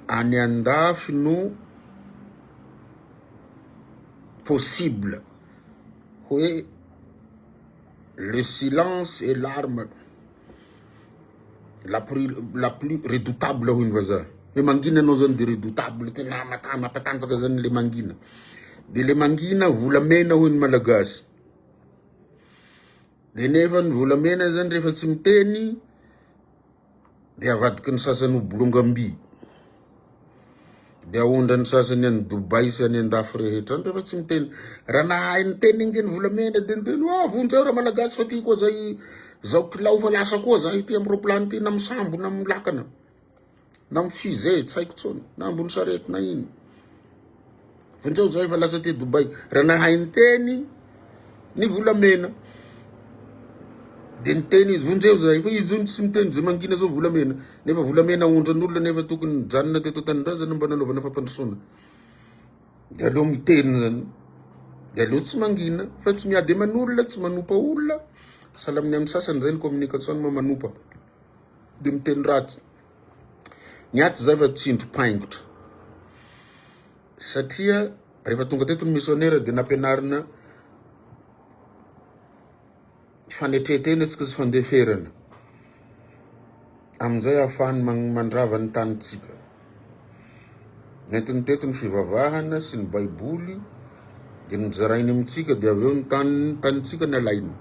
any andafy no possible hoe le silence et l'arme la plus la plus redoutable hoy ny vazaha hoe mangina anao zany de redoutable tena mata- mampatanjaka zany le mangina de le mangina volamena hoy ny malagasy de nefa ny volamena zany rehefa tsy miteny Dia avadiky ny sasany ho bolongam-by. Dia aondra ny sasany any Dubai sy any andafy rehetra. Nefa tsy miteny. Raha nahay niteny ange ny volamena dia niteny hoe ah vonjeo raha malagasy fa tiako aza i zao kilao fa lasa koa za ity amin'ny roplany ity na misambo na milakana na mifizey tsy haiko tsony na ambony sarety na ino. Vonjeo zah efa lasa aty Dubai raha nahay niteny ny volamena de niteny izy vonjeo zah efa izy zony tsy miteny ze mangina zao volamena nefa volamena aondran'olona nefa tokony nijanona teto an-tanindrazana mba nanaovana fampandrosoana de aleo miteny zany de aleo tsy mangina fa tsy miady aman'olona tsy manompa olona sahala amin'ny amin'ny sasany zay ny communication moa manompa de miteny ratsy Ny ahy tsy zay fa tsindrim-paingotra. Satria rehefa tonga teto ny misionera dia nampianarina fanetretena isika sy fandeferana. Amin'izay ahafahany man- mandrava ny tanintsika. Nentiny teto ny fivavahana sy ny baiboly dia nozarainy amintsika dia avy eo ny tany tanintsika nalainy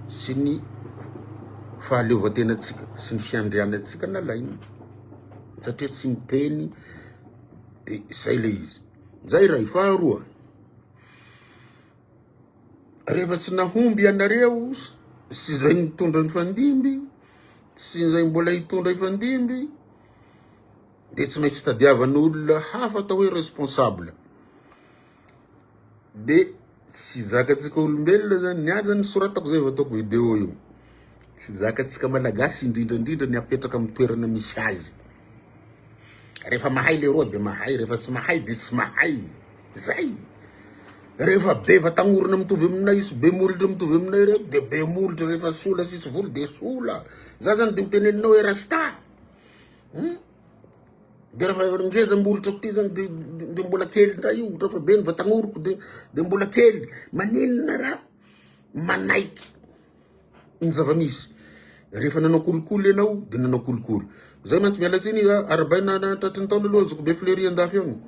sy ny fahaleovantenantsika sy ny fiandrianantsika nalainy satria tsy miteny dia izay le izy zay iray faharoa rehefa tsy nahomby ianareo sy izay nitondra ny fandimby sy izay mbola hitondra ifandimby dia tsy maintsy tadiavan'olona hafa atao hoe responsable dia tsy zakatsika olombelona zany ny azy ny soratako zay vao ataoko video io tsy zakatsika malagasy indrindra indrindra ny apetraka amin'ny toerana misy azy rehefa mahay le roa de mahay rehefa tsy mahay de tsy mahay zay rehefa be vatagnorona mitovy aminay izy be molotra mitovy aminay reo de be molotra rehefa sola sisy voly de sola za zany de ho teneninao hoe rasta Dia raha fa ngeza molotra aty zany de de mbola kely ndray io raha fa be ny vatanoroko de de mbola kely maninona raha manaiky ny zava-misy rehefa nanao kolikoly ianao de nanao kolikoly zay mantsy miala tsiny arabaina tratry ny taona aloha zokibe flery andafy agny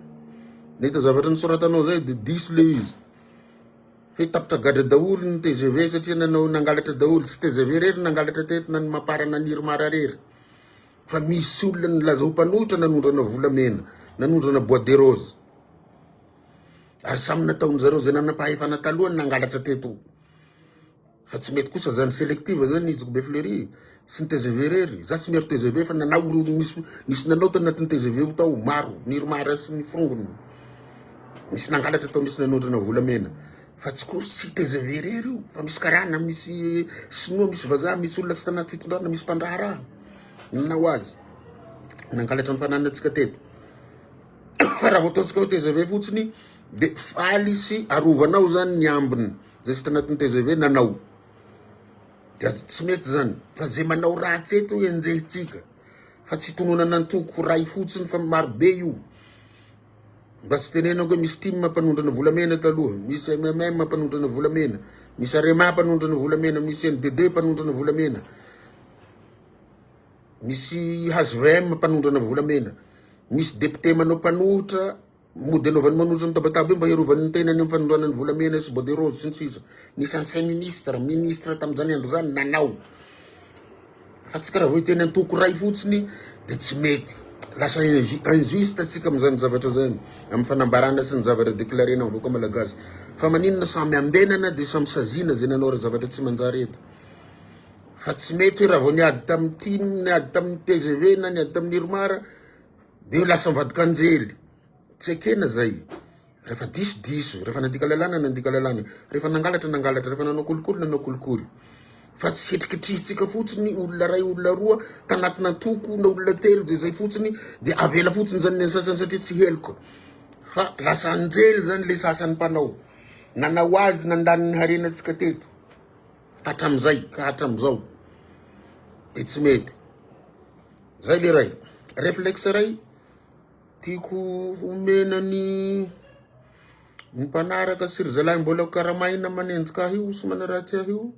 nahita zavatra nisoratanao zay de diso le izy fe tapitra gadra daholo ny tgv satria nanao nangalatra daholo tsy tgv rery nangalatra teto na ny mapar na ny irmar rery Fa misy olona nilaza ho mpanohitra nanondrana volamena, nanondrana bois de rose. Ary samy nataon'ny zareo zay nanam-pahefana taloha ny nangalatra teto. Fa tsy mety kosa zany selective zany izy be fleuri sy ny TGV irery. Za tsy miaro TGV fa nanao ireo nisy nisy nanao tao anatin'ny TGV io tao maro, ny Irmar sy ny forongony. Nisy nangalatra tao, nisy nanondrana volamena. Fa tsy course tsy tgv irery io fa misy karana, misy sinoa, misy vazaha, misy olona tsy tanaty fitondrana, misy mpandraharaha. Inona ho azy? Nangalatra ny fananantsika teto. Fa raha vao ataontsika hoe tgv fotsiny dia faly sy arovanao zany ny ambiny zay tsy tanatin'ny tgv nanao. Dia tsy mety zany fa zay manao ratsy eto enjehintsika fa tsy itononana antoko iray fotsiny fa marobe io. Mba tsy tenenako hoe misy tim mpanondrana volamena eto aloha, misy MMM mpanondrana volamena, misy Arema mpanondrana volamena, misy NBD mpanondrana volamena, misy HVM mpanondrana volamena, misy député manao mpanohitra mody anaovany manohitra ny tabataba io mba hiarovany ny tenany amin'ny fanondrana ny volamena sy bordereau sy ny sisa. Nisy ancien ministre, ministre tamin'izany andro izany nanao. Fa tsika raha vao hiteny antoko iray fotsiny dia tsy mety. Lasa injuste tsika amin'izany zavatra izany, amin'ny fanambarana sy ny zavatra declarena amin'ny vahoaka malagasy. Fa maninona samy ambenana dia samy saziana izay nanao ra zavatra tsy manjary eto. Fa tsy mety hoe raha vao niady tamin'ny tim, niady tamin'ny tgv na niady tamin'ny irmar dia lasa mivadika anjely. Tsy ekena izay. Rehefa diso, diso. Rehefa nandika lalàna, nandika lalàna. Rehefa nangalatra, nangalatra. Rehefa nanao kolikoly, nanao kolikoly. Fa tsy hetrikitrihintsika fotsiny olona ray, olona roa, tanatina antoko na olona telo dia izay fotsiny, dia avela fotsiny izany ny an'ny sasany satria tsy heloka. Fa lasa anjely izany ilay sasany mpanao. Nanao azy nandany ny harenantsika teto. Hatramin'izay ka hatramin'izao. Dia tsy mety. Izay ilay ray. Reflexe ray. Tiako homena ny ny mpanaraka sy ry zalahy mbola karamaina manenjika ahy io sy manaratsy ahy io.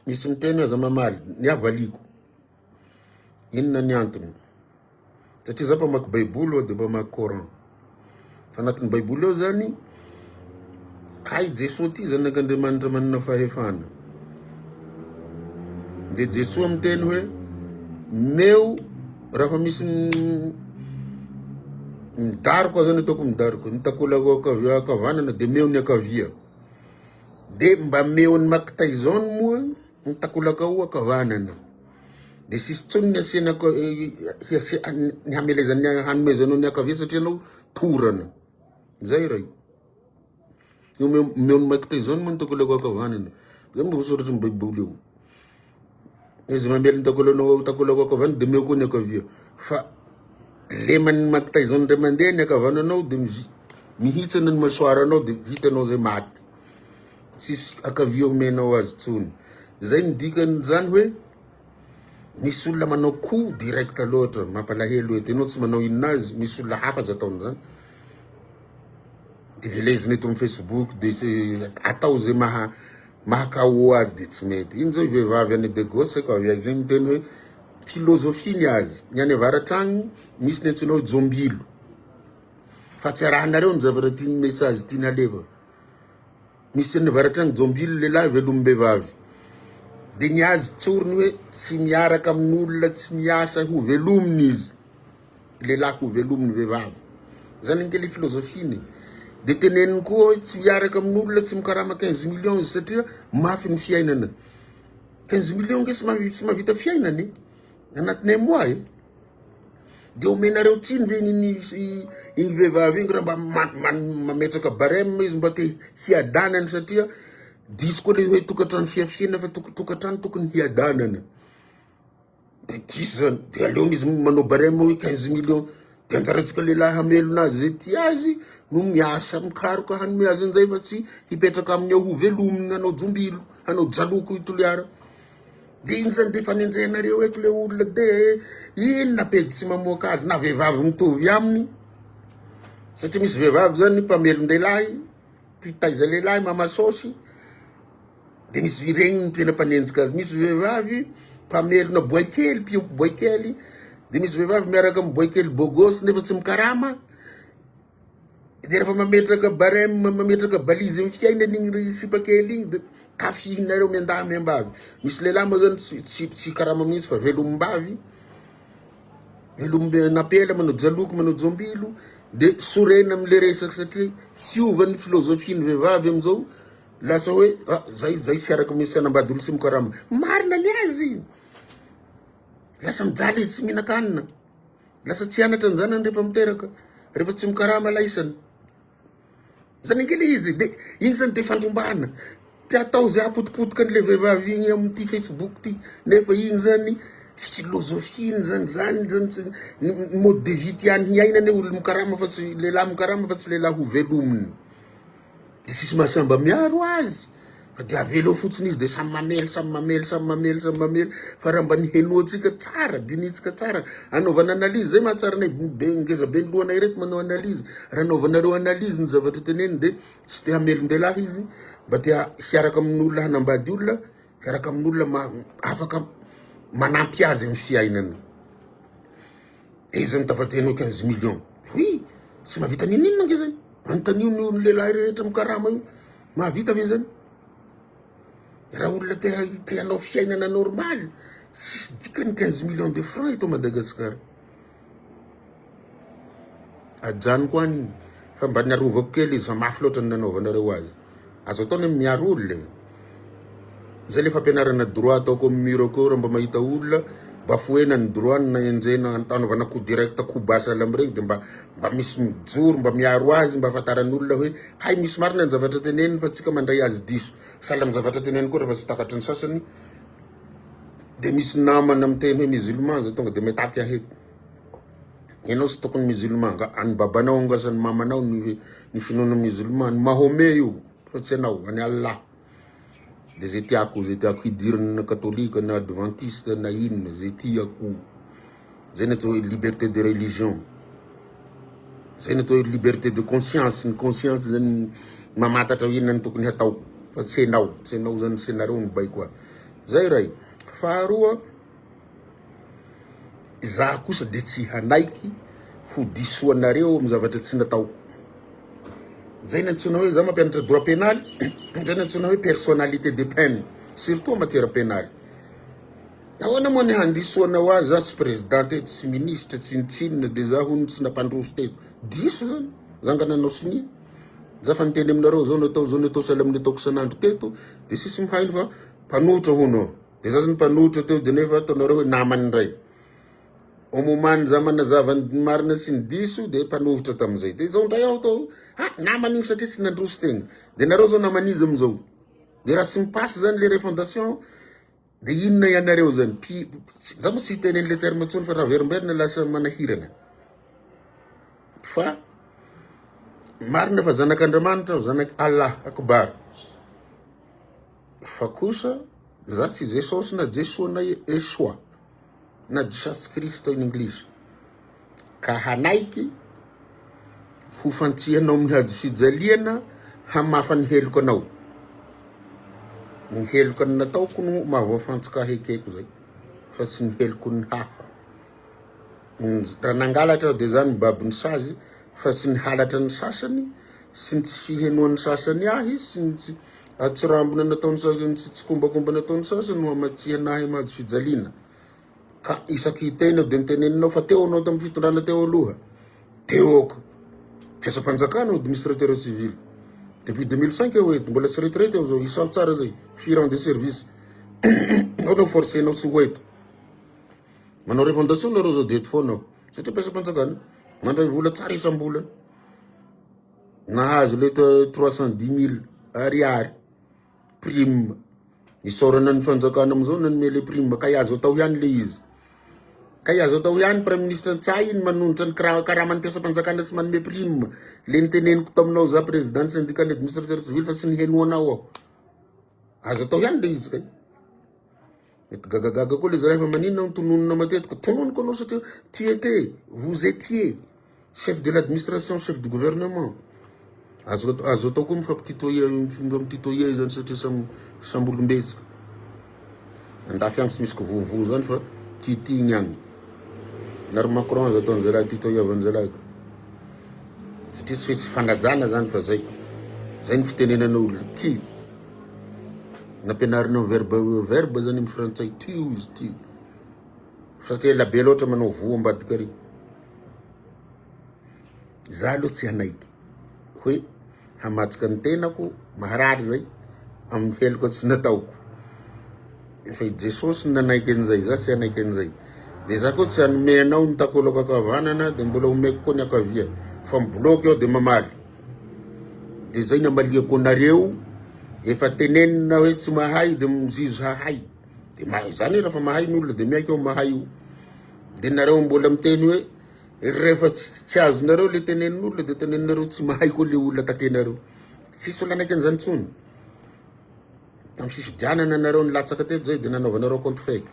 Misy miteny aza mamaly ny havaliako. Inona ny antony? Satria za mpamaky Baiboly aho dia mpamaky Coran. Fa anatin'ny baiboly ao zany hay Jesoa ty zanak'Andriamanitra manana fahefana. Dia Jesoa miteny hoe meo rafa misy midaroka zany ataoko midaroka ny takolako akavanana dia meo ny akavia. Dia mba meo ny makita izao ny moa Ny takolaka oa ka vanana de sisy tsony ny asiana ny hamelezan'ny hanomezanao ny akavia satria anao torana zay ray omeo ny mike tyson moa ny takolaka oa ka vanana zay mba voasoratry ny baiboly ao izy mamely ny takolanao takolaka oa ka vanana de meo koa ny akavia fa leman'ny mike tyson ndray mandeha ny akavananao de mihitsana ny masoaranao de vitanao zay maty tsisy akavia omenao azy tsony zay ny dikany zany hoe misy olona manao coup direct loatra mampalahelo eto enao tsy manao inona azy misy olona hafa aza ataony zany de velezina eto amin'ny facebook de atao zay maha maha KO azy de tsy mety iny zao vehivavy any be gosse ko avy aiza miteny hoe philosophie ny azy ny any avaratra agny misy ny antsoina hoe jombilo fa tsy arahanareo ny zavatra tiany message tiany alefa Misy any avaratra any jombilo lehilahy velombevavy de ny azy tsoriny hoe tsy miaraka amin'olona tsy miasa ho velominy izy lehilahy ho velominy vehivavy zany ange le filozofiny de teneniny koa hoe tsy miaraka amin'olona tsy mikarama quinze millions izy satria mafy ny fiainana quinze millions nge tsy mahavita fiainana e anatin'ny un mois e. De omenareo tsiny ve iny iny vehivavy iny raha mba mametraka barème izy mba te hiadanana satria diso koa le hoe tokantrano fiafiana fa tokantrano tokony hiadanana. De diso zany, de aleony izy manao barème hoe quinze millions, de anjarantsika lehilahy hamelona azy ze tia azy no miasa mikaroka hanome azy an'izay fa tsy hipetraka aminy ao ho velominy hanao jombilo, hanao jaloko i Toliara. De iny zany de fanenjehanareo eto le olona de inona pejy tsy mamoaka azy na vehivavy mitovy aminy satria misy vehivavy zany mpamelon-dehilahy mpitaiza lehilahy mamasôsy de misy viregniny tena mpanenjika azy misy vehivavy mpamelona boay kely mpiompy boay kely de misy vehivavy miaraka amy boay kely bôgôsy nefa tsy mikarama Dia rehefa mametraka barème, mametraka balise amin'ny fiainany igny ry sipa kely igny dia tafihinareo miandahy miambavy. Misy lehilahy moa zany tsy tsy tsy karama mihitsy fa velomimbavy. Velombe napela manao jaloky manao jombilo dia sorena amin'le resaka satria hiova ny philosophie ny vehivavy amin'izao lasa hoe ah zay zay tsy araka misy anambady olo sy mikarama. Marina ny azy. Lasa mijaly izy tsy mihinan-kanina. Lasa tsy anatra ny zanany rehefa miteraka, rehefa tsy mikarama ilay isany. Zany angila izy, de iny zany de fandrombahana. Te atao zay hapotipotika an'ilay vehivavy igny amin'ity Facebook ty, nefa igny zany filôzôfiany zany, zany zany tsy ny mode de vie tiany hiaina anie olo mikarama fa tsy, lehilahy mikarama fa tsy lehilahy hovelominy. Dia tsisy masamba miaro azy fa dia avela eo fotsiny izy dia samy mamely samy mamely samy mamely samy mamely fa raha mba nihenoantsika tsara dinintsika tsara anaovana analyse zay mahatsara anay be ngeza be ny lohanay reto manao analyse raha anaovanareo analyse ny zavatra teneniny dia tsy te hamelin-dehilahy izy mba te hiaraka amin'olona hanambady olona Miaraka amin'olona afaka manampy azy amin'ny fiainany. Dia izy zany tafaditra hanao quinze millions. Oui, tsy mahavita n'inon'inona ange zany. Anontanio ny ny lehilahy rehetra mikarama io, mahavita ve zany? Raha olona te te hanao fiainana normaly, tsisy dikany quinze millions de francs eto Madagasikara. Ajanoko any fa mba ny arovako kely izy fa mafy loatra ny nanaovanareo azy. Azo atao ny miaro olona e. Zay le fampianarana droit ataoko amin'ny mur akeo raha mba mahita olona bafoena ny droit-ny na enjehina anaovana coup direct coup bas à l'homme regny de mba mba misy mijoro mba miaro azy mba ahafantaran'ny olona hoe hay misy marina ny zavatra teneniny fa tsy ka mandray azy diso. Sahala amin'ny zavatra teneniko koa rehefa tsy takatry ny sasany. Dia misy namana miteny hoe musulman zao tonga dia mitaky ahy eto. Ianao tsy tokony musulman nga, an'i babanao nga sa an'i mamanao ny finoana musulman, an'i Mahomet io fa tsy ianao, an'i Allah. Dia zay tiako, zay tiako hidirina na katolika na advantista na inona, zay tiako. Zay ny atao hoe liberté de religion. Zay ny atao hoe liberté de conscience. Ny conscience zany mamatatra hoe inona no tokony hatao. Fa tsy enao, tsy enao zany, tsy nareo no baiko a. Zay ray. Faharoa, izaho kosa dia tsy hanaiky ho diso anareo amin'ny zavatra tsy nataoko. Zay ny antsoina hoe za mampianatra droit pénal, zay ny antsoina hoe personnalité de peine, surtout en matière pénale. Ahoana moa ny handisoanao azy za tsy président teto tsy ministre tsy nitsinona de za hono tsy nampandroso teto diso zany zanga nanao sonia za fa niteny aminareo zao natao zao natao sahala amin'ny ataoko isan'andro teto de sisy mihaino fa mpanotra hono de za zany mpanotra teo de nefa ataonareo hoe namany indray omomany za manazava ny marina sy ny diso de mpanohitra tamin'izay de zao indray aho tao ha namany iny satria tsy nandroso tegna de nareo zao naman'izy amin'izao de raha tsy mipasy zany le refondation Dia inona ianareo zany? Pi, za moa tsy hiteny an'le terme tsony fa raverimberina lasa manahirana. Fa marina fa zanak'Andriamanitra aho, zanak' Allah akbar. Fa kosa za tsy Jesosy na Jesoa na Esoa. na Jesus Cristo in English, ka hanaiky ho fantsihanao amin'ny hazofijaliana hamafa ny heloko anao. Ny heloka ny nataoko no mahavoafantsika hekeko izay, fa tsy ny heloko ny hafa. Raha nangalatra aho dia izany ny babon'ny sazy, fa tsy ny halatra ny sasany, sy ny tsy fihenoan'ny sasany ahy, sy ny tsy Hatsirambina nataon'ny sasany sy tsikombakomba nataon'ny sasany no hamatsiana ahy am-hazo fijaliana. Ka isaky hiteny aho dia niteneninao fa teo anao tamin'ny fitondrana teo aloha. Teo aoka. Mpiasam-panjakana aho, administrateur civil. Depuis 2005 aho eto, mbola tsy retraite aho zao, isaho tsara zay, firy ans de service. Ao no forcenao tsy ho eto. Manao revendication nareo zao dia eto foana aho. Satria mpiasam-panjakana, mandray vola tsara isam-bolana. Nahazo ilay trois cent dix mille ariary prime. Isaorana ny fanjakana amin'izao nanome ilay prime kay azo atao ihany ilay izy. Kay azo atao ihany praiminisitra Ntsay ny manonitra ny karaman'ny mpiasam-panjakana sy manome prime. Ilay niteneniko taminao za président syndicat administrateur civil fa tsy nihenoanao aho. Azo atao ihany ilay izy kay. Mety gagagaga koa le zalahy fa maninona no tononina matetika? Tononiko anao satria tu étais, vous étiez chef de l'administration, chef du gouvernement. Azo atao azo atao koa mifampititoya mifampititoya izany satria samy samy olombetsika. Andafy agny tsy misy kivovo zany fa titigny agny. Nary Macron azo atao zalahy titoyavan zalahy ka. Satria tsy hoe tsy fanajana zany fa zay. Zay ny fitenenana olona ty. Nampianarinao verba io verba zany amin'ny frantsay tio izy ity fa tsy ela be loatra manao voa ambadika ary za aloha tsy hanaiky hoe hamatsika ny tenako maharary zay amin'ny heloka tsy nataoko efa i jesosy ny nanaiky an'izay za tsy hanaiky an'izay de za koa tsy hanome anao ny takolako akavanana de mbola omeko koa ny akavia fa mibloke eo de mamaly de zay ny amaliako anareo efa tenenina hoe tsy mahay de mizizi hahay de mahay zany rafa mahay ny olona de miaiky ao mahay io de nareo mbola miteny hoe rehefa tsy azonareo le tenenin'olona de teneninareo tsy mahay koa le olona takenareo tsisy olona anaiky an'izany tsony tam fisidianana nareo nilatsaka teto zay de nanaovanareo compte fake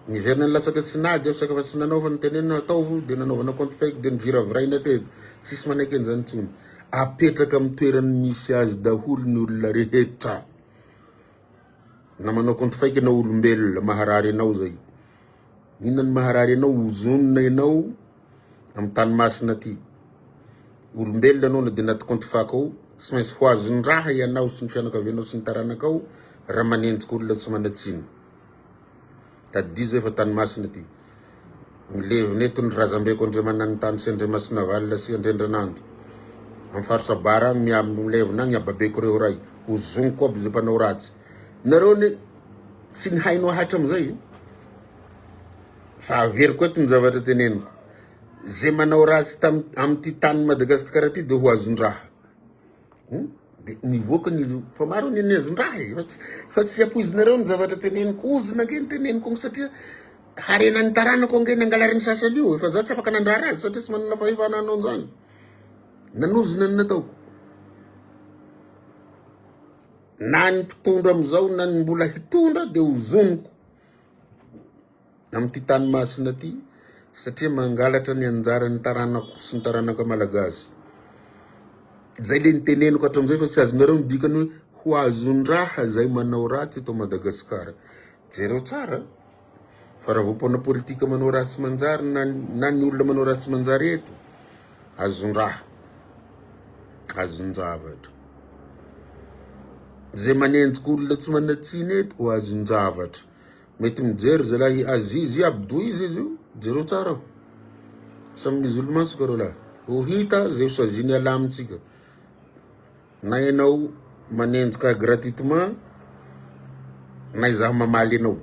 Niverina nilatsaka tsy nady aho saika fa tsy nanaova ny tenenina ataovy dia nanaovana compte fake dia niviraviraina teto. Tsisy manaiky an'izany intsony. Apetraka amin'ny toerany misy azy daholo ny olona rehetra. Na manao compte fake ianao olombelona maharary ianao zay. Inona ny maharary ianao ozonina ianao amin'ny tany masina aty. Olombelona ianao na dia anaty compte fake ao tsy maintsy ho azon-draha ianao sy ny fianakavianao sy ny taranakao raha manenjika olona tsy manan-tsiny. Tadidio zay fa tany masina ty. Milevina eto ny razambeko Andriamananintany sy Andriamasinavalona sy Andriandranando. Amin'ny faritra Abara agny miha milevina agny ababeko reo ray. Ho zoniko aby zay mpanao ratsy. Nareo ne tsy nihaino hatramizay. Fa averiko eto ny zavatra teneniko. Zay manao ratsy tam- amity tany Madagasikara ty de ho azondraha. Hmm? Dia nivoaka ny izy fa maro ny nezon-draha e. Fa tsy, fa tsy ampoizinareo ny zavatra teneniko. Ozona ange ny teneniko ange satria harena ny taranako ange nangalariny sasany io. Fa za tsy afaka nandrara azy satria tsy manana fahefana hanao an'izany. Nanozona ny nataoko. Na ny mpitondra amin'izao na ny mbola hitondra dia ozoniko. amin'ity tany masina ity satria mangalatra ny anjaran'ny taranako sy ny taranaka malagasy. Zay le niteneniko hatram'izay fa tsy azonareo ny dikany hoe ho azon-draha zay manao ratsy eto Madagasikara. Jereo tsara fa raha voapaona politika manao ratsy manjary na na ny olona manao ratsy manjary eto azon-draha azon-javatra. Zay manenjika olona tsy manan-tsiny eto ho azon-javatra. Mety mijery zalahy Aziz Abdou izy izy io, jereo tsara aho. Samy musulman tsika reo lahy. Ho hita zay ho sazin'i Allah amintsika. Na ianao manenjika gratuitement, na izaho mamaly anao.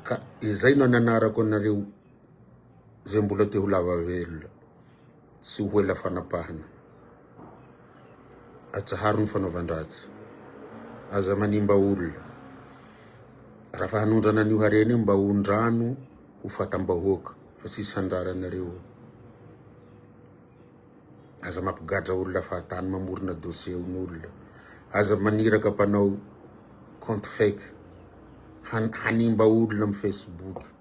Ka izay no nanarako anareo zay mbola te ho lava velona. Tsy ho ela fanapahana. Atsaharo ny fanaovan-dratsy. Aza manimba olona. Raha fa hanondrana an'io harena io mba hondrano ho fatam-bahoaka fa tsy sandrara anareo. Aza mampigadra olona fahatany mamorona dossier on'olona. Aza maniraka mpanao compte fake hanimba olona amin'ny Facebook.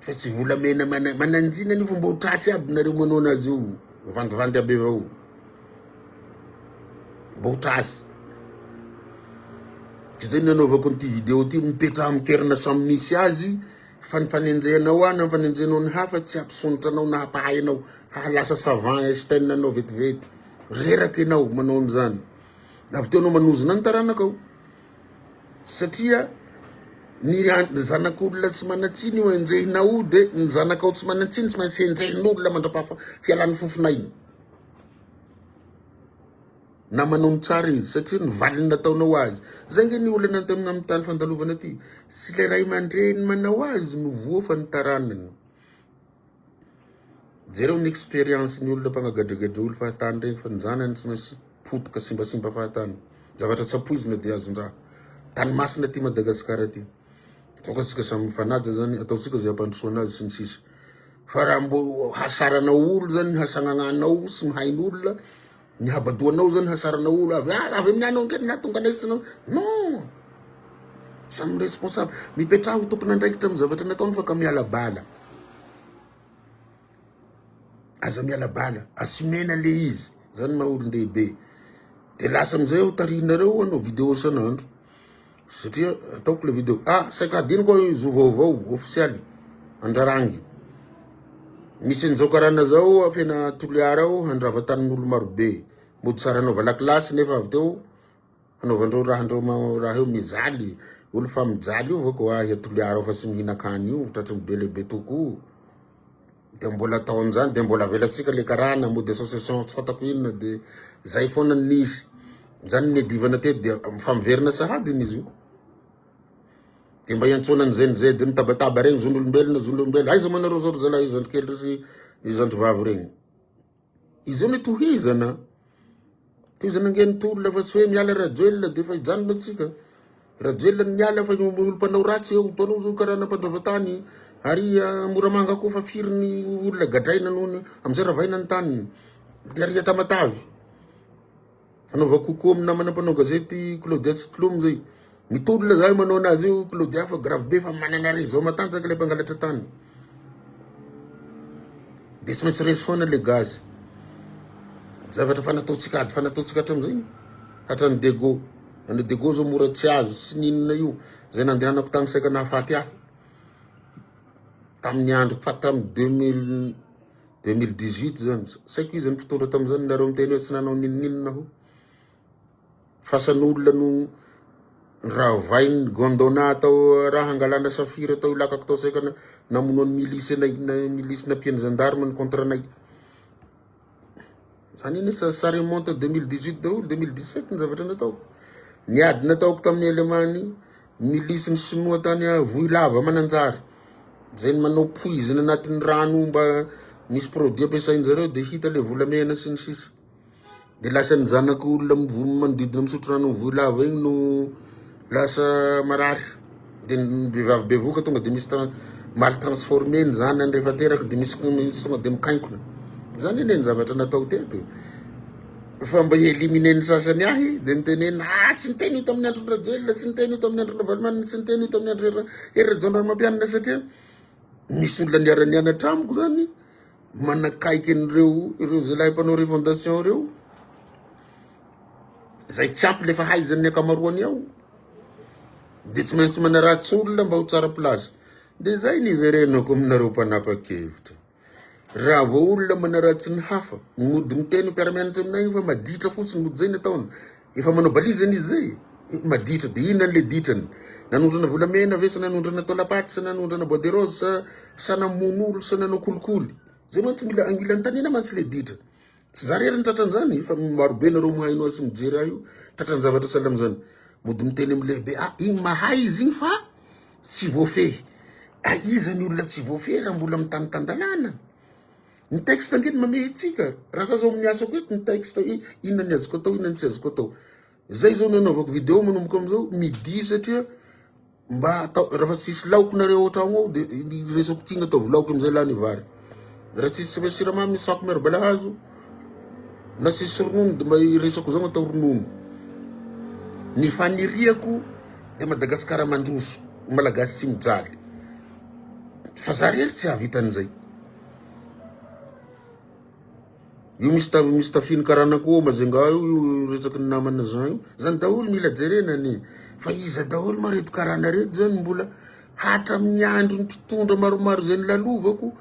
Fa tsy volamena mana mananjina an'io fa mba ho tratsy aby nareo manao anazy io vandivandy aby avao mba ho tratsy ka zay nanaovako an'ity video ty mipetraha amin'ny toerana samy misy azy fa ny fanenjehanao ahy na ny fanenjehanao ny hafa tsy hampisondrotra anao na hampahay anao hahalasa savant Einstein anao vetivety reraka ianao manao an'izany avy teo anao manozona ny taranakao satria ny zanak'olona tsy manan-tsiny io enjehinao io dia ny zanakao tsy manan-tsiny tsy maintsy enjehin'olona mandrapaha fialan'ny fofon'aina na manao ny tsara izy satria ny valiny nataonao azy zay nge ny olana antamina amin'ny tany fandalovana aty sy le ray aman-dreny manao azy no voa fa ny taranany Jereo ny expérience ny olona mpanagadregedre olo fahatany regny fa ny zanany tsy maintsy potika simbasimba fahatany zavatra tsy ampoizina dia azondraha tany masina aty Madagascar aty toaka tsika samy mifanaja zany ataotsika zay ampandrosoana azy sy ny sisa fa raha mbo hasarana olo zany hasagnananao sy mihaino olona Ny habadoanao zany hasarana olo avy ah avy amin'ny anao nge nahatonga anay tsy nanao non samy responsable mipetraha ho tompon'andraikitra amin'ny zavatra nataony fa ka miala bala aza miala bala asimena le izy zany maha olon-dehibe de lasa amizay aho tarinareo anao video san'andro Satria ataoko le video. Ah, saika adinoko io zo vaovao ofisialy andrarangy. Misy an'izao karana zao afena Toliara ao handrava tanin'olo marobe. Mody tsara anaova lakilasy nefa avy teo hanaovandreo rahandreo raha eo mijaly. Olo fa mijaly io vao ko ahy Toliara ao fa tsy mihinan-kany io tratry ny be lehibe tokoa. de mbola atao amizany de mbola avelatsika le karana mody association tsy fatako inona de zay foana nisy zany niadivana teto de fa miverina sahady iny izy io de mba iantsoana an'izay n'izay de mitabataba regny zon'olombelona zon'olombelona aiza moa nareo zao ry zalahy izandry kely ry sy izandry vavy regny Izao no tohizana. Tohizana ange ny tolona fa tsy hoe miala Rajoelina dia efa hijanona antsika. Rajoelina no miala fa ny olo mpanao ratsy eo. Hitanao izao karana mpandravatany ary ah, Moramanga koa fa firy ny olona gadraina noho ny amin'izay ravaina ny taniny. Dia ary Tamatave. Fanaova coucou amin'ny namana mpanao gazety Claudia tsy tlomo zay. Mitolona zahay manao anazy io Claudia fa grave be fa manana réseau matanjaka ilay mpangalatra tany. Dia tsy maintsy resy foana ilay gaz. Zavatra fa nataontsika ady fa nataontsika hatramin'izay. Hatrany Dego. Any Dego zao mora tsy azo tsy ninona io. Zay nandehanako tany saika nahafaty ahy. Tamin'ny andro fa tamin'ny 2000 2018 zany, saiko izy mpitondra tamin'izany, nareo miteny hoe tsy nanao ninoninona ho. Fasan'olona no niravain'ny gondona tao raha hangalana safira tao ilakako tao saika namonoan'ny milisy anay, milisy nampian'ny zandarma ny contrat-nay. Izany anie ça, ça remonte à 2018 daholo, 2017 ny zavatra nataoko. Ny ady nataoko tamin'ny Alemany, milisy ny Sinoa tany Vohilava Mananjary. Izay ny manao poizina anatin'ny rano mba misy produit ampiasain-jareo dia hita ilay volamena sy ny sisa. Dia lasa ny zanak'olona mivo- manodidina misotro rano amin'ny Vohilava igny no Lasa marary de ny vehivavy bevoka tonga de misy mal transformé ny zanany rehefa teraka de misy tonga de mikainkona zany anie ny zavatra natao teto fa mba éliminer ny sasany ahy de nitenena ah tsy niteny io tamin'ny andron'ny rajoelina tsy niteny io tamin'ny andron'ny ravalomanana tsy niteny io tamin'ny andro hery rajaonarimampianina satria misy olona niara-nianatra amiko zany manakaiky an'ireo ireo zalahy mpanao revendation ireo zay tsy ampy le fahaizan'ny akamaroany ao de tsy maintsy manaratsy olona mba ho tsara place de zay ny verenako aminareo mpanapa-kevitra raha vao olona manaratsy ny hafa mody miteny mpiara-mianatra aminay io fa maditra fotsiny mody zay ny ataony Efa manao balise zany izy zay? Maditra dia inona an'ilay ditrany? Nanondrana volamena ve sa nanondrana taolam-paty sa nanondrana bois de rose sa sa namono olona sa nanao kolikoly? Zay mantsy mila mila antanina mantsy ilay ditra. Tsy za rery ny tratran'izany fa marobe nareo mahaino azy sy mijery ahy io tratran-javatra sahala amin'izany. Mody miteny amin'ny lehibe ah igny mahay izy igny fa tsy voafehy. Aiza ny olona tsy voafehy raha mbola mitany tan-dalàna? Ny texte ange no mamehy antsika. Raha za zao amin'ny asako eto ny texte hoe inona ny azoko atao, inona ny tsy azoko atao. Zay zao nanaovako video manomboka amin'izao midi satria mba atao raha fa tsisy laoky nareo ao tragno ao dia ny resako tigna ataovy laoky amin'izay lany vary. Raha tsisy raha siramamy ny sako miaro balahazo na tsisy ronono dia mba resako zao atao ronono. Ny faniriako dia Madagasikara mandroso, Malagasy tsy mijaly. Fa za rery tsy hahavita an'izay. Io misy ta misy tafiny karana koa mazenga io io resaky ny namana zan io zany daholo mila jerena anie fa iza daholo ma reto karana reto zany mbola hatramin'ny andro ny mpitondra maromaro zay nilalovako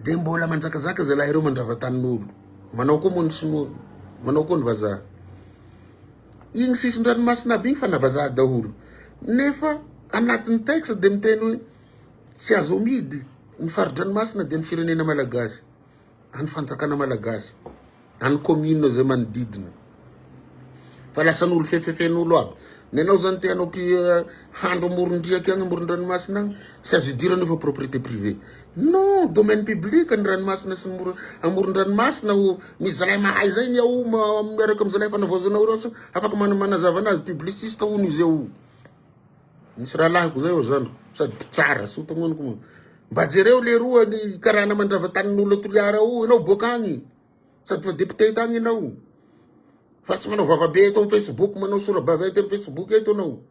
de mbola manjakazaka zalahy reo mandrava tanin'olo manao koa moa ny sinoa manao koa ny vazaha iny sisin-dranomasina aby iny fa na vazaha daholo nefa anatin'ny texte de miteny hoe Tsy azo amidy ny fari-dranomasina dia ny firenena malagasy, any fanjakana malagasy, any commune izay manodidina. Fa lasan'olo fefefen'olo aby. Ny anao zany te hanao eh, handro amoron-driaka agny amoron-dranomasina agny, tsy azo idirana fa propriété privée. Non, domaine public ny ranomasina sy ny amoron-dranomasina o. Misy zalahy mahay zay ny ao miaraka amin'ny zalahy fanavaozanao ireo afaka manazava anazy, publiciste hono izay o. Misy rahalahiko zay ao zandriko sady mpitsara sy mpagnonoko moa. Mba jereo leroa ny karana mandrava tanin'olona Toliara ao ianao boaka agny. Sady fa député tagny ianao. Fa tsy manao vavabe eto amin'ny Facebook manao sora-baventy amin'ny Facebook eto ianao.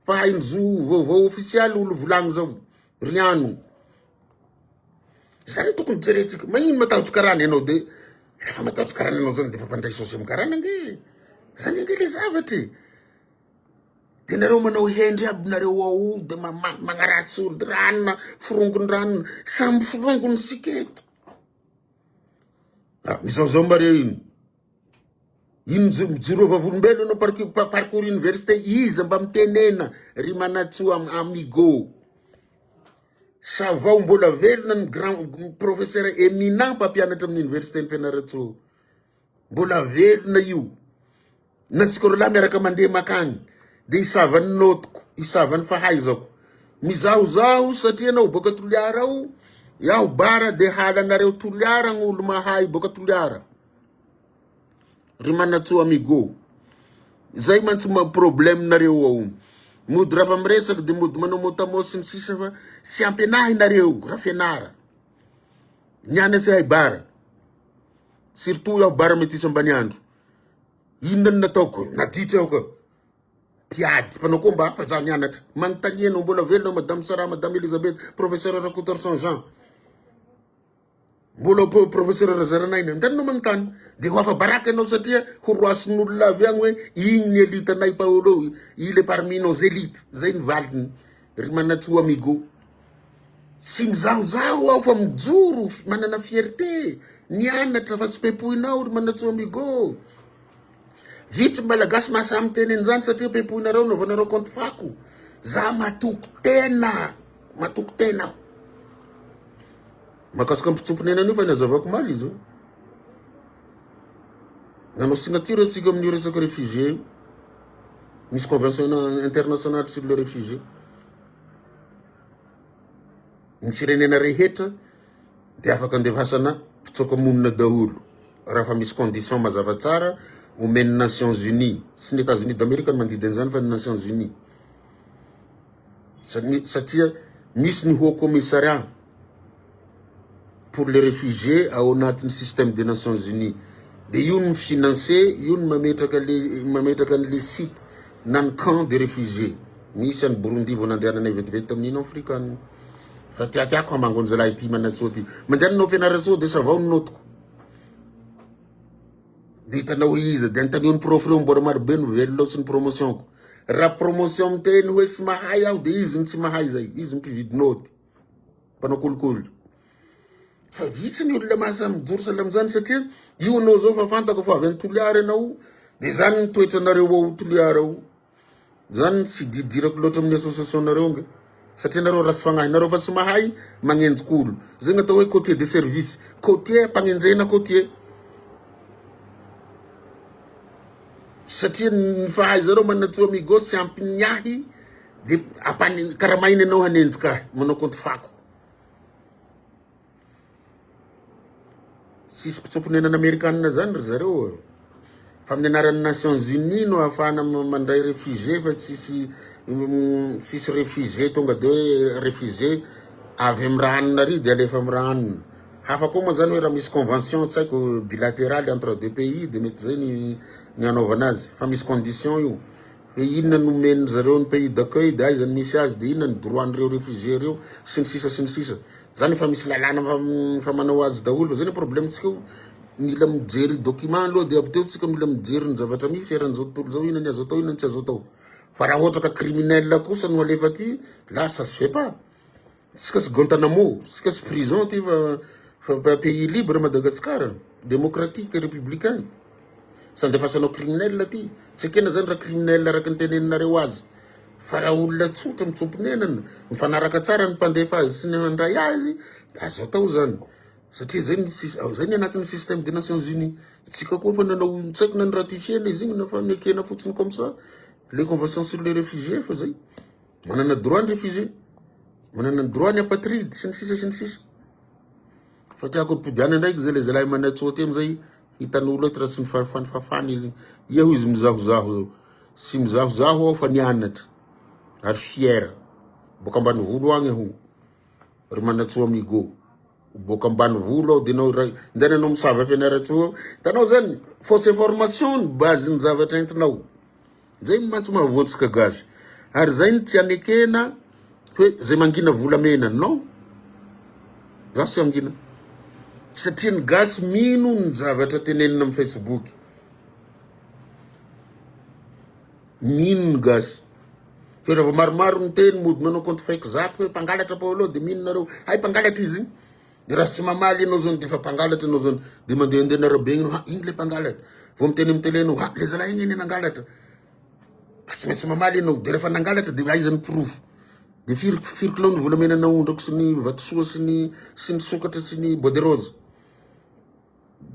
Fa hay ny zo vaovao ofisialy olo volagny zao. Riano. Zany tokony jerentsika. Magnino matahotra karana ianao de rehefa matahotra karana ianao zany de fa mpandray saosy amin'ny karana ange. Zany ange le zavatry. Dia nareo manao hendry aby nareo ao dia magnaratsy olo-dranona, forongon-dranona, samy forongon' isika eto. Ah, mizaozao mba reo iny. Iny mijoro eo vavolombelona anao parcours, parcours université, iza mba mitenena ry manatsoa amigo. Savao mbola velona ny grand professeur eminent mpampianatra amin'ny université ny Fianarantsoa. Mbola velona io. Na tsika roalahy miaraka mandeha makany dia hisava ny notiko, hisava ny fahaizako. Mizahozaho satria ianao boaka Toliara ao, iaho Bara dia halanareo Toliara ny olo mahay boaka Toliara. Ry Manatsoa Amigo. Zay mantsy ma problème nareo ao. Mody rafa miresaka dia mody manao motamo sy ny sisa fa tsy ampianahy nareo Rafianara. Ny any tsy hay Bara. Surtout aho bara metisy Ambaniandro. Inona no nataoko? Naditra aho ka. Mpiady, mpanao komba hafa za nianatra. Manontania anao, mbola velona Madame Sarah, Madame Elisabeth, Professeur Rakotoarison Jean. Mbola po- Professeur Razaranaina. Antanina manontany. Dia ho afa-baraka ianao satria horoasin'olona avy agny hoe igny ny elitanay Paolo, il est parmi nos élites. Zay ny valiny. Ry Manatsoa Amigo, tsy mizahozaho aho fa mijoro manana fierté, nianatra fa tsy pepoinao ry Manatsoa Amigo. Vitsy ny malagasy mahasahy miteny an'izany satria pepoinareo anaovanareo compte fako. Za matoky tena, matoky tena aho. Makasika mpitsompinena anio fa nazavako omaly izy io. Nanao signature antsika amin'io resaka réfugié io. Misy convention internationale sur les réfugiés. Ny firenena rehetra dia afaka andevasana mpitsoaka monina daholo raha fa misy condition mazava tsara omen'ny Nations Unies. Tsy ny États-Unis d'Amérique no mandidy an'izany fa ny Nations Unies. Satria misy ny Haut Commissariat pour les réfugiés ao anatin'ny système des nations unies dia io no mi financer io no mametraka le mametraka an'le site na ny camp des réfugiés misy any Burundi vao nandehananay vetivety tamin'ny Union africanina fa tiatiako hamangonjalahy ity manatsoa ity mandeha nanao fianarantsoa dia savao ny notiko dia hitanao iza dia antanio ny prof reo mbola marobe no velona sy ny promotionko raha promotion miteny hoe tsy mahay aho dia izy no tsy mahay zay izy mpividy noty mpanao kolikoly fa vitsy ny olona mahazany mijoro sahala amin'izany satria io anao zao fa fantako fa avy any Toliara ianao dia izany ny toetranareo ao Toliara ao izany tsy didirako loatra amin'ny association-nareo nga satria nareo ratsy fagnahy nareo fa tsy mahay magnenjik'olo zay ny atao hoe côtier de service côtier mpagnenjena côtier satria ny fahaizareo manatsoa migo tsy ampin'ny ahy Dia ampani- karamaina ianao hanenjika ahy, manao kaonty fako. Tsisy mpitsoa-ponenana Amerikanina zany ry zareo e. Fa amin'ny anaran'ny Nations Unies no ahafahana ma- mandray réfugié fa tsisy mm, tsisy réfugié tonga de hoe réfugié avy amin'ny raha hanina ry de alefa amin'ny raha hanina. Hafa koa moa zany hoe raha misy convention tsy haiko bilateraly entre deux pays de mety zay ny ny hanaovana azy fa misy condition io. Dia inona no omen'ny zareo ny pays d'accueil dia aiza no misy azy dia inona ny droit an'ireo réfugiés ireo sy ny sisa sy ny sisa. Zany efa misy lalàna fa fa manao azy daholo fa zay ny problème tsika io mila mijery document aloha dia avy teo tsika mila mijery ny zavatra misy eran'izao tontolo izao inona ny azo atao inona ny tsy azo atao. Fa raha ohatra ka criminel kosa no alefa aty là ça se fait pas. Tsika tsy Guantanamo, tsika tsy prison ty fa fa pays libre Madagascar, démocratique, républicain. Tsy andefasanao criminel aty. Tsy ekena zany raha criminel araka ny teneninareo azy. Fa raha olona tsotra mitsoa-ponenana, mifanaraka tsara ny mpandefa azy sy ny handray azy, de azo atao zany. Satria zay ny sys- zay ny anatin'ny système des nations unies. Tsika koa efa nanao tsy haiko na ni-ratifier-na izy igny na fa nekena fotsiny comme ça le convention sur les réfugiés fa zay. Manana droit ny refusé. Manana ny droit ny apatride sy ny sisa sy ny sisa. Fa tiako ampidiana ndraiky zay le zalahy manao tsoty amizay hitan'olo eto raha tsy mifafany fafany izy. Eo izy mizahozaho eo. Tsy mizahozaho aho fa nianatra. Ary fier. Boka ambanivolo agny aho. Ry manatsoa amigo. Boaka ambanivolo aho de nao iray ndany anao misava fianarantsoa ao tanao zany fausse information ny base ny zavatra entinao zay mantsy mahavoantsika gasy ary zay ny tsy anekena hoe zay mangina volamena non za tsy angina satria ny gasy mino ny zavatra tenenina amin'ny facebook Mino gasy fa raha vao maromaro miteny mody manao compte fake zato hoe mpangalatra paolo dia mino nareo hay mpangalatra izy dia raha tsy mamaly ianao zao dia efa mpangalatra ianao zao dia mandehandeha ny arabe ianao ha iny le mpangalatra vao miteny amin'ny tele ianao ha le zalahy iny iny nangalatra fa tsy maintsy mamaly ianao dia rehefa nangalatra dia aiza ny porofo dia firy firy kilao ny volamena naondrako sy ny vatosoa sy ny sy ny sokatra sy ny bois de rose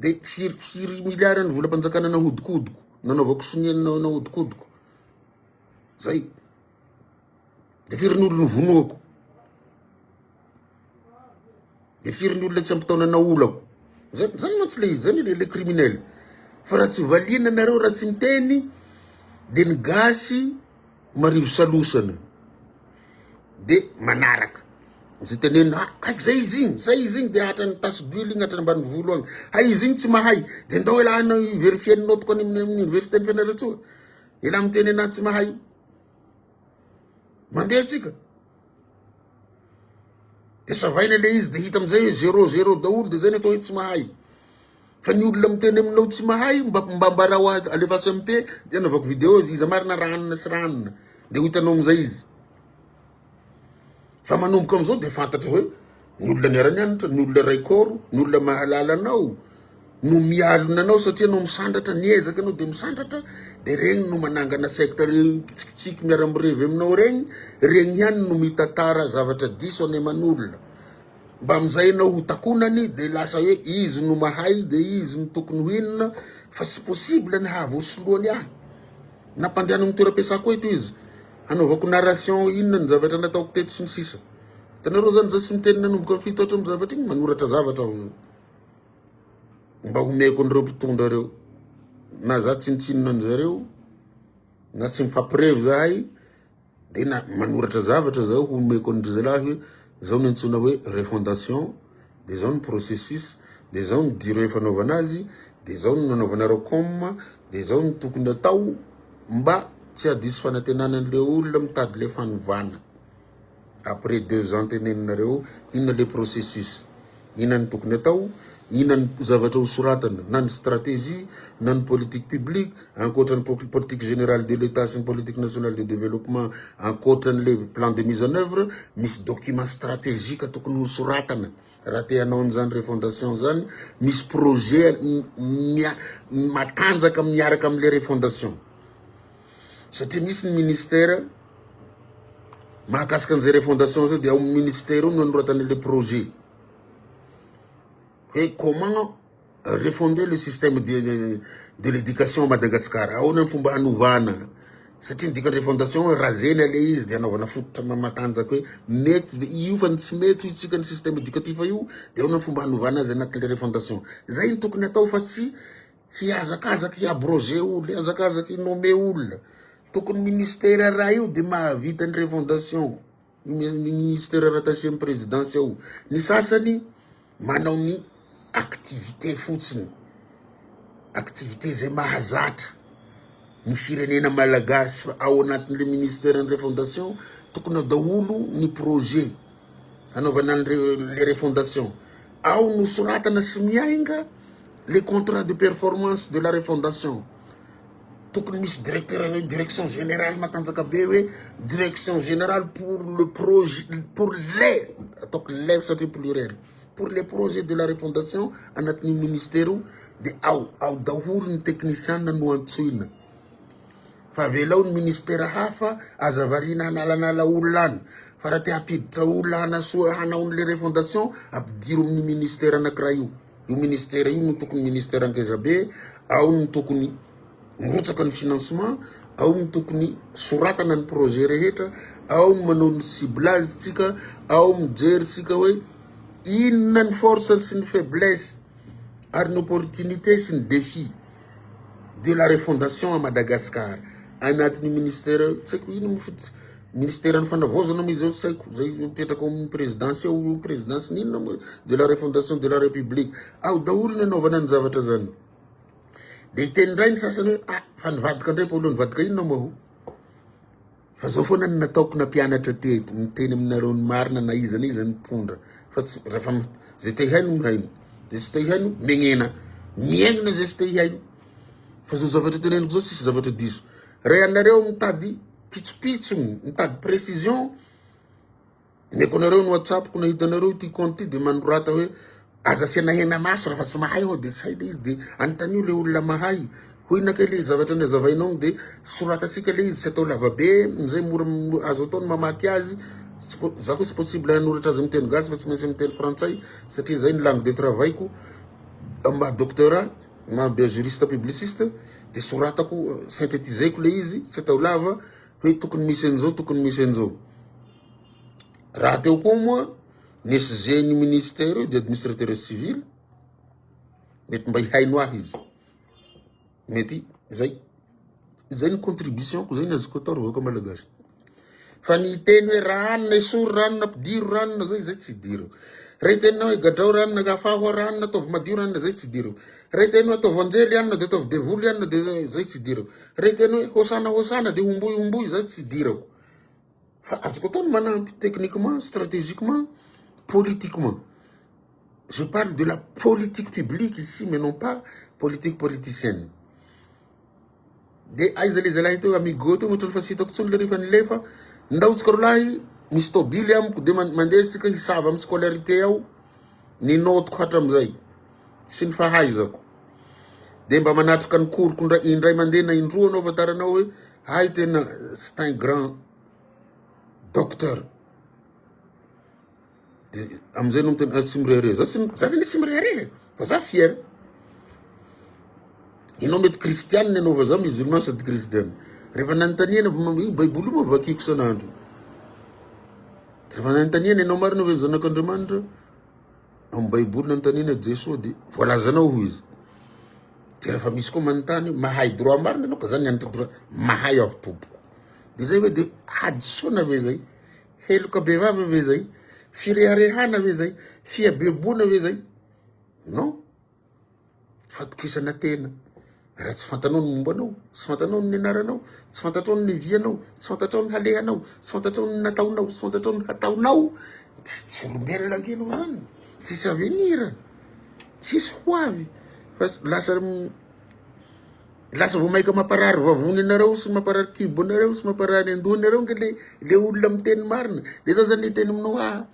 Dia tsiritsiry milliards ny volam-panjakana nahodikodiko, nanaovako sonia nahodikodiko. Zay. Dia firy ny olona novonoako? Dia firy ny olona tsy ampy taona naolako? Zay, zany mantsy le izy, zany le criminel. Fa raha tsy valiana nareo raha tsy miteny dia ny gasy Marivo salosana de manaraka izay tenenina ah, aiky zay izy igny zay izy igny de hatrany tasy d'huile igny hatrany ambany volo agny hay izy igny tsy mahay de ndao elah anao verifier nao tokony amin'ny amin'ny université ny fianarantsoa elah miteny anah tsy mahay mandeha tsika de savaina le izy de hita amizay hoe zero zero daholo de zay ny atao hoe tsy mahay Fa ny olona miteny aminao tsy mahay mba mba ambarao ahy alefaso MP de anaovako video izy iza marina ranona sy ranona de ho hitanao amizay izy fa manomboka amizao de fantatra hoe ny olona niara-nianatra ny olona ray kôro ny olona mahalala anao no mialona anao satria anao misandratra niezaka anao de misandratra de regny no manangana secte re mpitsikitsiky miara-mirevy aminao regny regny ihany no mitatara zavatra diso any aman'olona Mbamin'izay ianao ho takonany dia lasa hoe izy no mahay dia izy no tokony ho inona fa tsy possible ny hahavoasoloany ahy. Nampandehanan'ny toeram-piasako eto izy hanaovako narration inona ny zavatra nataoko teto sy ny sisa. Hitanareo izany izaho tsy miteny nanomboka ny fito hatramin'ny zavatra iny, manoratra zavatra aho mba homeko an'ireo mpitondra ireo. Na izaho tsinontsinona an'izareo na tsy mifampirevy izahay. Dia na manoratra zavatra zaho ho omeko an'dry zalahy hoe zao no antsoina hoe refondation, dia zao ny processus, dia zao ny durée fanaovana azy, dia zao no nanaovanareo com, dia zao no tokony atao mba tsy hadiso fanantenana an'le olona mitady le fanovana. Après deux ans teneninareo, inona le processus? Inona ny tokony atao? Inona ny zavatra ho soratana na ny stratégie na ny politique publique ankoatra ny politique générale de l'Etat sy ny politique nationale de développement ankoatra an'ilay plan de mise en œuvre misy document stratégique tokony ho soratana raha te hanao an'izany refondation izany misy projet matanjaka miaraka amin'ilay refondation satria misy ny ministère mahakasika an'izay refondation zay dia ao amin'ny ministère ao no anoratana ilay projet hoe comment refonder le système de de l'éducation à Madagascar ahoana ny fomba hanovana satria ny dikan'ny refondation hoe razena ilay izy dia hanaovana fototra ma- matanjaka hoe mety ve io fa ny tsy mety ho isika ny système éducatif io dia ahoana ny fomba hanovana azy anatin'ilay refondation zay no tokony atao fa tsy Hihazakazaka hiabroger olona, hihazakazaka hi-nommer olona. Tokony ministère ray io dia mahavita ny refondation, ny ministère rattaché amin'ny présidence ao. Ny sasany manao ny activité fotsiny, activité izay mahazatra ny firenena malagasy fa ao anatin'ilay ministère ny refondation tokony ao daholo ny projet. hanaovana an'ireo le refondation. Ao no soratana sy miainga le contrat de performance de la refondation. Tokony misy directeur eo direction générale matanjaka be hoe direction générale pour le projet pour les ataoko les satria pluriel pour les projets de la refondation anatin'ny ministère io de ao ao daholo ny teknisiana no antsoina. Fa avelao ny ministera hafa aza variana hanalanala olona any fa raha te hampiditra olona hanasoa hanao an'le refondation ampidiro amin'ny ministera anakiray io io ministera io no tokony ministera ngezabe ao no tokony mirotsaka ny financement ao no tokony soratana ny projet rehetra ao no manao ny ciblage tsika ao mijery tsika hoe inona ny force sy ny faiblesse ary ny opportunité sy ny défi de la refondation à Madagascar anatin'ny ministera tsy haiko inona moa fotsiny ministeran'ny fanavaozana moa izao tsy haiko zay mipetraka ao amin'ny présidence ao io présidence n'inona moa de la refondation de la république ao daholo ny anaovana ny zavatra zany de hiteny indray ny sasany hoe ah fa nivadika indray Paolo nivadika inona moa Fa zao foana no nataoko na mpianatra te miteny aminareo ny marina na iza na iza ny mpitondra fa tsy refa ze te haino no haino de tsy te haino megnena miaigna ze tsy te haino fa zao zavatra teneniko zao tsisy zavatra diso re anareo mitady pitsopitsony mitady precision Omeko anareo ny whatsappko na hitanareo ity compte ity dia manorata hoe aza asiana hena maso raha fa tsy mahay aho dia tsy hay le izy dia anontanio le olona mahay hoy na kay le zavatra ny azavainao ny dia soratatsika le izy tsy atao lavabe mizay mora azo atao ny mamaky azy za koa tsy possible hanoratra azy miteny gasy fa tsy maintsy miteny frantsay satria zay ny langue de travail ko mba docteur na mba juriste publiciste dia soratako synthétiser ko le izy tsy atao lava hoe tokony misy an'izao tokony misy an'izao Rahateo koa moa ny SG ny ministera io dia administrateur civil, mety mba hihaino ahy izy, mety zay, zay ny contribution-ko, zay ny azoko atao ry vahoaka malagasy, fa ny hiteny hoe ranona esory ranona ampidiro ranona zay, zay tsy hidiriko, raha hiteny anao hoe gadrao ranona ka afaho ranona ataovy madio ranona zay tsy hidiriko, raha hiteny hoe ataovy anjely anona dia ataovy devoly anona dia zay tsy hidiriko, raha hiteny hoe hosana hosana dia homboy homboy zay tsy hidirako. Fa azoko atao ny manampy techniquement, strategiquement, politiquement. Je parle de la politique publique ici mais non pas politique politicienne. Dia aiza le zalahy teo amigo teo ohatrany fa tsy hitako intsony le rehefa nilefa. Ndao tsika rolahy misy tobily amiko dia mandeha tsika hisava amin'ny scolarité ao ny notiko hatramizay. sy ny fahaizako dia mba manatrika ny koriko indray indray mandeha na indroa anao fantaranao hoe hay tena c'est un grand docteur dia amin'izay no miteny tsy mirehareha za tsy za tena tsy mirehareha fa za fier ianao mety kristianina ianao fa za musulman sady kristianina rehefa nanontaniana io baiboly moa vakiko isan'andro rehefa nanontaniana ianao marina ve ny zanak'andriamanitra amin'ny baiboly nanontaniana Jesoa dia voalazanao ho izy dia rehefa misy koa manontany mahay droit marina ianao ka zany anitra droit mahay aho tompoko de zay hoe dia hadisoana ve zay heloka bevava ve zay fireharehana ve zay fihabeboana ve zay non Fatokisana tena. Raha tsy fantanao ny momba anao, tsy fantanao ny anaranao, tsy fantatrao ny vianao, tsy fantatrao ny halehanao, tsy fantatrao ny nataonao, tsy fantatrao ny hataonao, dia tsy olombelona ange ianao izany. Tsisy avenir, tsisy ho avy fa lasa lasa vao mainka mamparary vavony anareo sy mamparary kibo anareo sy mamparary an-doha anareo ange le le olona miteny marina. Dia za zany hiteny aminao ah,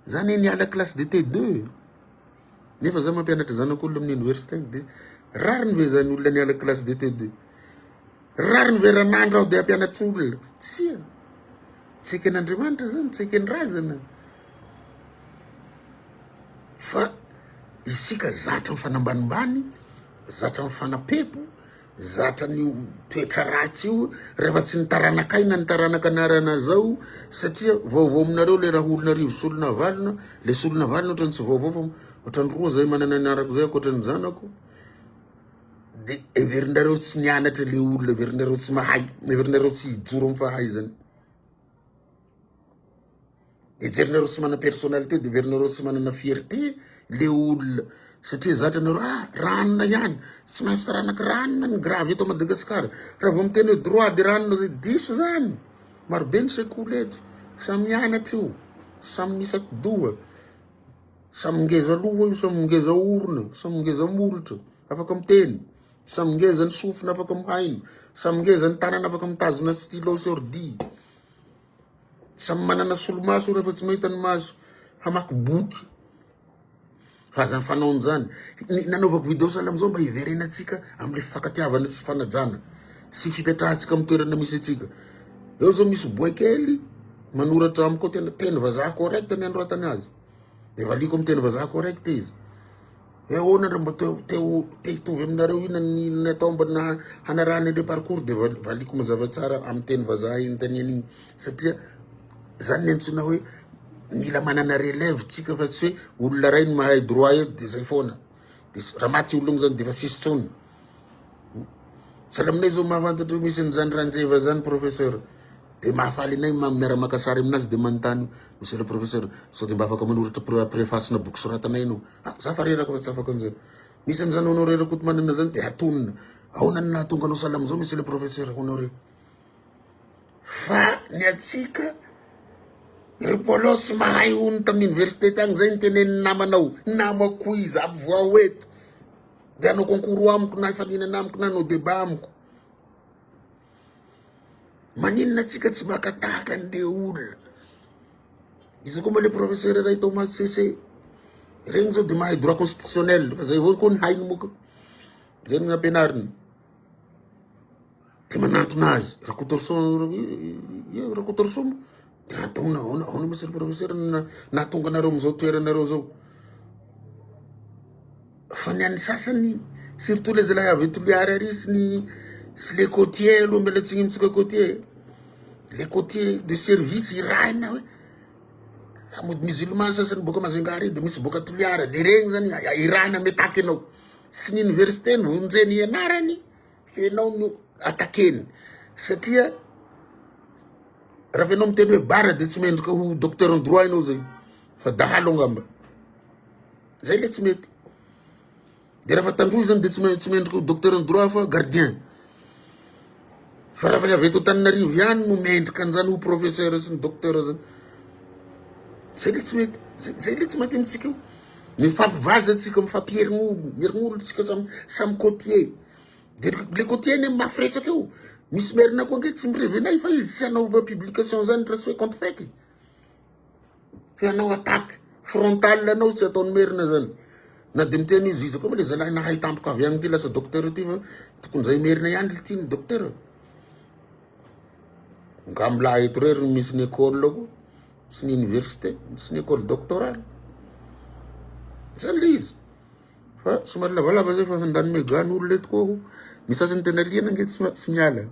za anie niala classe de T2. nefa za mampianatra zanak'olona amin'ny oniversite any de rariny ve zany olona niala classe de TD rariny ve ranandro aho de hampianatra olona tsia tsy eken'Andriamanitra zany tsy eken'ny razana fa isika zatra ny fanambanimbany zatra ny fanapepo Zatra an'io toetra ratsy io rehefa tsy ny taranakay na ny taranaka anarana zao satria vaovao aminareo le raha olona arivo solona valona le solona valona ohatrany tsy vaovao fa ohatrany roa zay manana ny arako zay ankoatrany zanako de heverinareo tsy nianatra le olona heverinareo tsy mahay heverinareo tsy hijoro amin'ny fahaizany Hejerinareo tsy manana personnalité, deverinareo tsy manana fierté le olona satria zatra nareo ah ranona ihany, tsy maintsy taranaka ranona ny grave eto Madagasikara, raha vao miteny hoe droit de ranona zay diso zany, maro be ny sekoly eto, samy mianatra io, samy misy atidoha, samy ngeza loha io, samy ngeza orona, samy ngeza molotra, afaka miteny. Samy ngeza ny sofina afaka mihaino. Samy ngeza ny tanana afaka mitazona stylo sy ordi. Samy manana solomaso rehefa tsy mahita ny maso hamaky boky. Fa aza fanao an'izany. Ny nanaovako video sahala amin'izao mba hiverenantsika amin'ilay fifankatiavana sy fanajana sy fipetrahantsika amin'ny toerana misy antsika. Eo izao misy boay kely manoratra amiko ao tena teny vazaha correct ny anoratany azy. Dia valiako amin'ny teny vazaha correct izy. Hoe ahoana ndry mba te hitovy aminareo ina ny atao mba hanarahany an'ireo parcours dia valiko mazava tsara amin'ny teny vazaha inontaniana iny satria zany ny antsoina hoe mila manana relève tsika fa tsy hoe olona iray no mahay droit eto dia zay foana dia raha maty olona zany dia efa tsisy tsony Tsara aminay izao mahafantatra io misy an'izany Ranjeva izany professeur. Dia mahafaly anay ma- miara-maka sary aminazy dia manontany hoe monsieur le professeur sao dia mba afaka manoratra pre- preface-na boky soratana ianao. Ah, za fa reraka fa tsy afaka an'izany. Misy an'izany Honoré Rakotomanana izany dia atonina. Ahoana no nahatonga anao salama izao monsieur le professeur Honoré? Fa ny antsika ry Polos mahay hono tamin'ny université tagny izay ny tenenin'ny namanao, namako izy, avo voaho eto. dia hanao concours amiko na hifaninana amiko na hanao débat amiko maninona atsika tsy maka tahaka an'le olona izy koa mba le professeur iray tao maty sese regny zao de mahay droit constitutionnel fa zay avao koa ny hainy moka zay ny ampianariny Dia manantona azy, Rakotoarison, eh, Rakotoarison, dia antaona, aona, aona misy ry professeur na- nahatonga anareo amin'izao toeranareo zao. Fa ny an'ny sasany, surtout le zalahy avy eto Toliary ary sy ny sy le côtier aloha mila tsy hintsika côtier. Le côtier de service irahina hoe mody musulman sasany boaka Majunga ary dia misy boaka Toliara, dia regny zany irahina mitaky anao. Sy ny université no vonjeny ianarany Fa ianao no attaquer-ny satria raha fa ianao miteny hoe bara dia tsy mendrika ho docteur en droit ianao zay fa dahalo angamba zay le tsy mety de raha fa tandroy zany de tsy me- tsy mendrika ho docteur en droit fa gardien fa raha fa le avy eto Antananarivo ihany no mendrika an'zany ho professeur sy ny docteur zany zay le tsy mety zay zay le tsy mety amintsika io Mifampivaza tsika mifampierignogo mierignolon tsika samy samy côtier de le côtier anie mafy resaka eo misy merina koa ange tsy mirevena ahy fa izy tsy hanao ba publication zany raha tsy hoe compte fake e fa hanao attaque frontale anao tsy ataony merina zany na de miteny io ziza koa moa le zalahy nahay tampoka avy agny ty lasa docteur ty fa tokony zay merina ihany le tiany docteur nga mila eto re ry misy ny école koa sy ny université sy ny école doctorale zay le izy fa somary lavalava zay fa handany mega ny olona eto ko aho ny sasany tena liana nge tsy tsy miala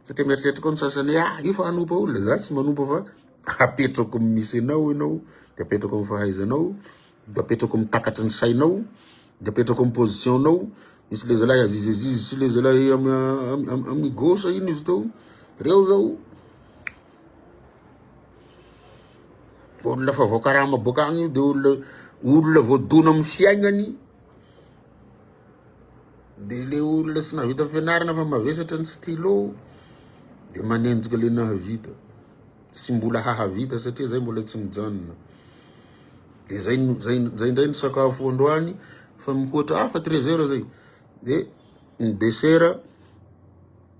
satria mieritreritra koa ny sasany ah io fa hanompa olona za tsy manompa fa apetrako misy anao ianao de apetrako amin'ny fahaizanao de apetrako amin'ny takatry ny sainao de apetrako amin'ny position nao misy le zalahy aziz aziz sy le zalahy amin'ny gauche ino izy teo reo zao fa olona fa voakarama boaka agny io de olona olona voadona amin'ny fiaignany de le olona sy nahavita fianarana fa mavesatra ny stylo de manenjika le nahavita tsy mbola hahavita satria zay mbola tsy mijanona de zay zay zay ndray ny sakafo androany fa mihoatra hafa treize heures zay de ny desera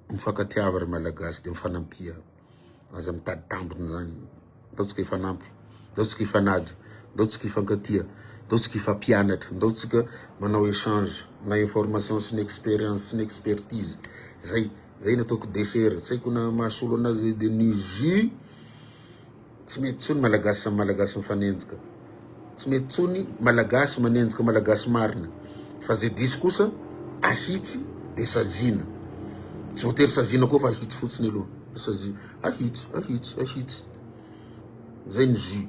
mifakatiava ry malagasy de mifanampia aza mitady tambiny zany ndao tsika ifanampy ndao tsika ifanaja ndao tsika ifankatia ndao tsika ifampianatra ndao tsika manao échange na information sy ny expérience sy ny expertise zay Zay no ataoko dessert, tsy haiko na mahasolo anazy de ny jus tsy mety tsony malagasy samy malagasy mifanenjika tsy mety tsony malagasy manenjika malagasy marina fa zay diso kosa ahitsy de saziana tsy voatery saziana koa fa ahitsy fotsiny aloha saziana ahitsy ahitsy ahitsy zay ny jus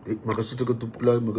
de mankasitraka tompokolahy